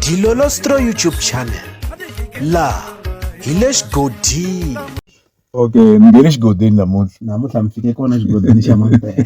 Dilolostro YouTube channel la hi le xigodini okay mi nge le xigodini namuntlha namuntlha mi fike kona xigodini xa mampela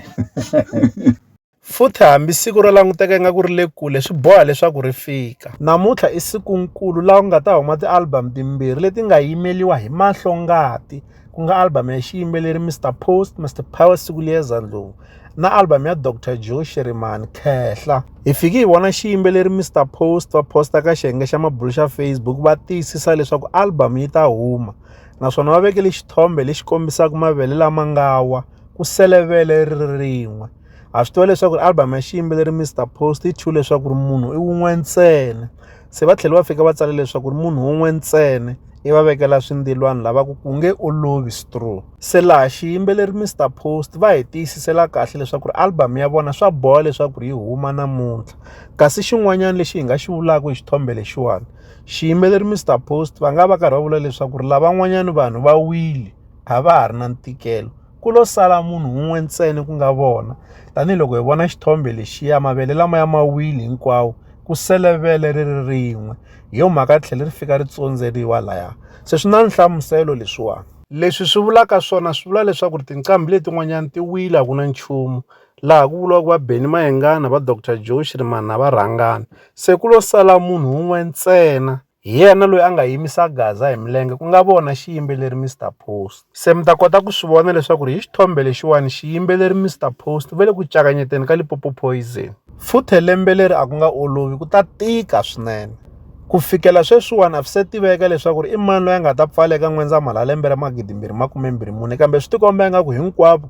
futhi hambi siku ro languteka ingaku ri le kule swi boha leswaku ri fika namuntlha i sikunkulu laha ku nga ta huma tialbum timbirhi leti nga yimeriwa hi mahlongati ku nga album ya xiyimbeleri Mr Post Mr Power siku liyeza ndlovu na album ya Dr Joe Shirimani Khehla hi fiki hi vona xiyimbeleri Mr Post va posta ka xiyenge xa mabulo xa Facebook va tiyisisa leswaku album yi ta huma naswona va vekele xithombe lexi kombisaka mavele lama nga wa ku selevele ri rin'we ha swi tiva leswaku album ya xiyimbeleri Mr Post yi thyiwe leswaku ri munhu i wun'we ntsena se va tlhela va fika va tsala leswaku ri munhu wun'we ntsena i va vekela swindilwani lava ku ku nge olovi straw se laha xiyimbeleri Mr Post va hi tiyisisela kahle leswaku ri album ya vona swa boha leswaku ri yi huma namuntlha kasi xin'wanyana lexi hi nga xi vulaka hi xithombe lexiwani xiyimbeleri Mr Post va nga va karhi va vula leswaku ri lavan'wanyani vanhu va wile a va ha ri na ntikelo ku lo sala munhu un'we ntsena ku nga vona tanihiloko hi vona xithombe lexiya mavele lama ya mawili hinkwawo ku sele vele ri ri rin'we hi yo mhaka ri tlhele ri fika ri tsondzeriwa laya se swi na nhlamuselo leswiwani leswi swi vulaka swona swi vula leswaku ri tinqambi letin'wanyana ti wila ku na nchumu laha ku vuriwaka va beni mayengana va doctor joe xirimani na varhangana se ku lo sala munhu un'we ntsena Hi yena loyi a nga yimisa Gaza hi milenge ku nga vona xiyimbeleri Mr Post. Se mi ta kota ku swi vona leswaku ri hi xithombe lexiwani xiyimbeleri Mr Post u ve le ku cakanyeteni ka Lipopo Poison. Futhe lembe leri a ku nga olovi ku ta tika swinene. Ku fikela sweswiwani a swi se tiveka leswaku ri i mani loyi a nga ta pfala eka N'wendzamhala lembe ra 2024 kambe swi tikomba ingaku hinkwavo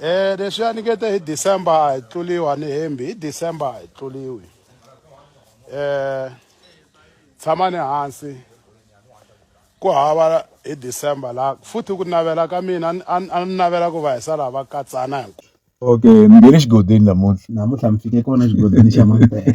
Eh leswi a ni nge te hi December a hi tluliwa ni hembi hi December a hi tluliwi eh tshamani hansi ku hava hi December la futhi ku navela ka mina a ni navela ku va hi sala va katsana hi Okay, mi nghene xigodini namuntlha namuntlha mi fike kona xigodini xa mampela